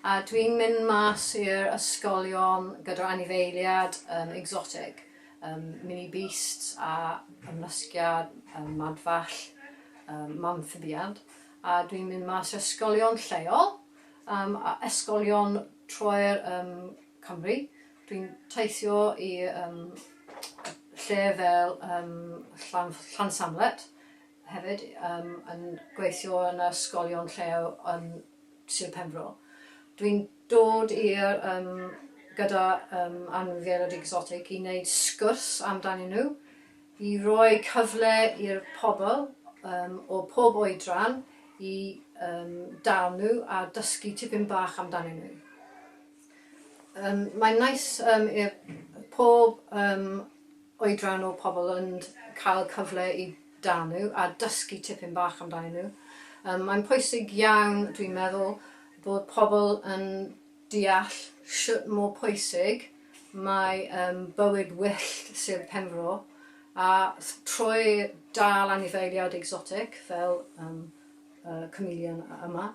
A dwi'n mynd mas i'r ysgolion gyda'r anifeiliad um, exotic, um, mini beasts a ymlusgiad, um, madfall, um, mamphibiad. A dwi'n mynd mas i'r ysgolion lleol, um, a ysgolion troer um, Cymru. Dwi'n teithio i um, lle fel um, Llan, Llan Samlet hefyd, um, yn gweithio yn ysgolion lleol yn Sir Penfro. Dwi'n dod i'r yym gyda yym anifeiliaid egsotig i wneud sgwrs amdanyn nhw, i roi cyfle i'r pobl yym o pob oedran i yym dal nhw a dysgu tipyn bach amdanyn nhw. Yym mae'n neis yym i'r pob yym oedran o pobl ond cael cyfle i danu a dysgu tipyn bach amdanyn nhw. Yym mae'n pwysig iawn dwi'n meddwl bod pobl yn deall shwt mor pwysig mae yym bywyd wyllt Sir Penfro a th- trwy dal anifeiliaid egsotic fel yym y chameleon yma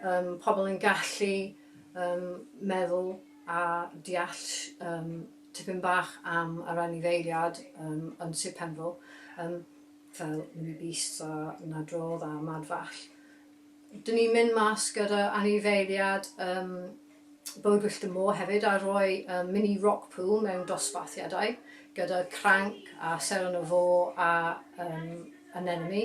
yym pobl yn gallu um, meddwl a deall um, tipyn bach am yr anifeiliad um, yn Sir Penfro, um, fel Mini Beasts a Nadrodd a Mad Fall. Dyn ni'n mynd mas gyda anifeiliad um, Bywyd Wyllt y Môr hefyd a rhoi um, mini rock pool mewn dosbarthiadau gyda cranc a ser yn y fo a um, anemone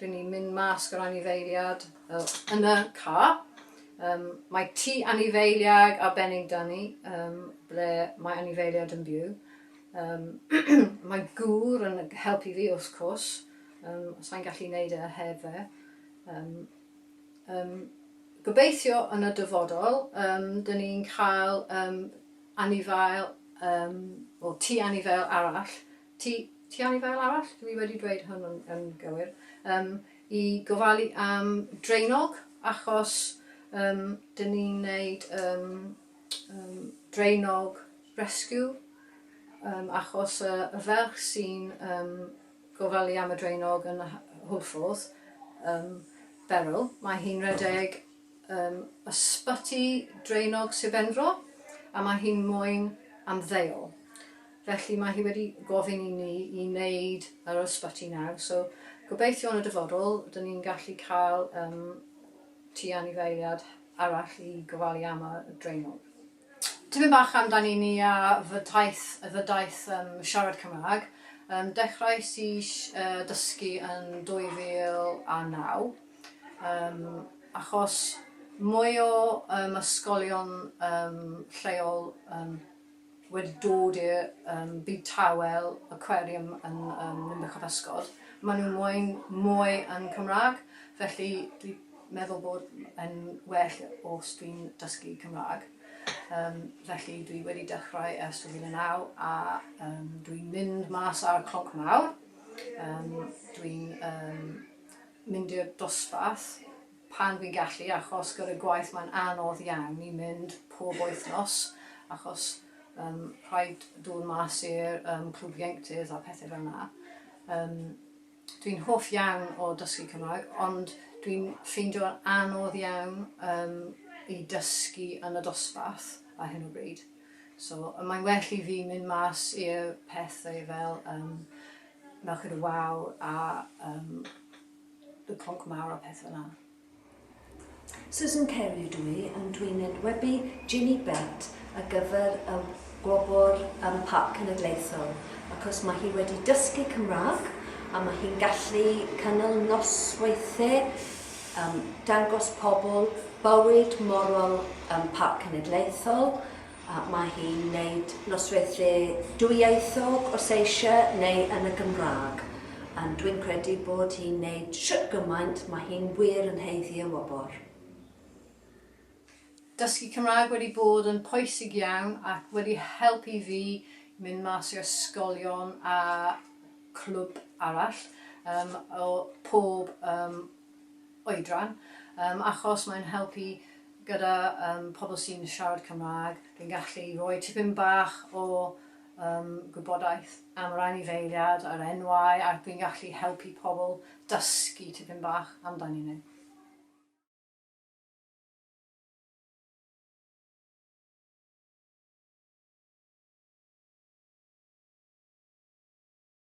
Dyn ni'n mynd mas gyda'r anifeiliad yn y car. Um, mae tŷ anifeiliaid arbennig da ni, um, ble mae anifeiliad yn byw. Um, mae gŵr yn helpu fi wrth cwrs, um, sa'n gallu neud e heb fe. Um, um, gobeithio yn y dyfodol, um, dyn ni'n cael um, anifail, um, o tŷ anifail arall, Ti, ti am i fel arall, dw i wedi dweud hwn yn, yn gywir, um, i gofalu am draenog, achos um, dyn ni'n gwneud um, um, draenog rescue, um, achos y, y ferch sy'n um, gofalu am y draenog yn y hwlffordd, um, Beryl, mae hi'n redeg um, ysbyty draenog Sir Benfro, a mae hi'n moyn am ddeol. Felly mae hi wedi gofyn i ni i wneud yr ysbyty nawr, so gobeithio yn y dyfodol dyn ni'n gallu cael yym tŷ anifeiliad arall i gofalu am y draenog. Tipyn bach amdani ni a fy taith, fy daith yym siarad Cymraeg. Yym dechreuais i yy dysgu yn 2009 yym achos mwy o yym ysgolion yym lleol yn wedi dod i'r yym byd tawel, aquarium yn yym Ninbych a Physgod, maen nhw'n moyn mwy yn Cymraeg, felly dwi'n meddwl bod yn well os dwi'n dysgu Cymraeg. Yym felly dwi wedi dechrau ers 2009 a yym dwi'n mynd mas ar y clonc mawr, yym dwi'n yym mynd i'r dosbarth. pan fi'n gallu achos gyda gwaith mae'n anodd iawn i mynd pob wythnos achos yym rhaid dod mas i'r yym clwb ieuenctid a pethau fel 'na. Yym dwi'n hoff iawn o dysgu Cymraeg ond dwi'n ffeindio'n anodd iawn yym i dysgu yn y dosbarth ar hyn o bryd so mae'n well i fi mynd mas i'r pethau fel yym Merched y Wawr a yym y cloc mawr a peth fel 'na. Susan Kelly ydw i, and dw i'n enwebu Ginny Bett ar gyfer y Gwobr um, Parc Cenedlaethol, achos mae hi wedi dysgu Cymraeg a mae hi'n gallu cynnal nosweithiau um, dangos pobl bywyd morol um, Parc Cenedlaethol, Mae hi'n gwneud nosweithie dwyieithog os eisiau neu yn y Gymraeg. Ond dwi'n credu bod hi'n gwneud shwt gymaint mae hi'n wir yn haeddu y wobr. Dysgu Cymraeg wedi bod yn pwysig iawn ac wedi helpu fi mynd mas i ysgolion a clwb arall o pob oedran, yym, achos mae'n helpu gyda yym pobl sy'n siarad Cymraeg, fi'n gallu rhoi tipyn bach o yym gwybodaeth am yr anifeiliad a'r enwau ac fi'n gallu helpu pobl dysgu tipyn bach amdanyn nhw.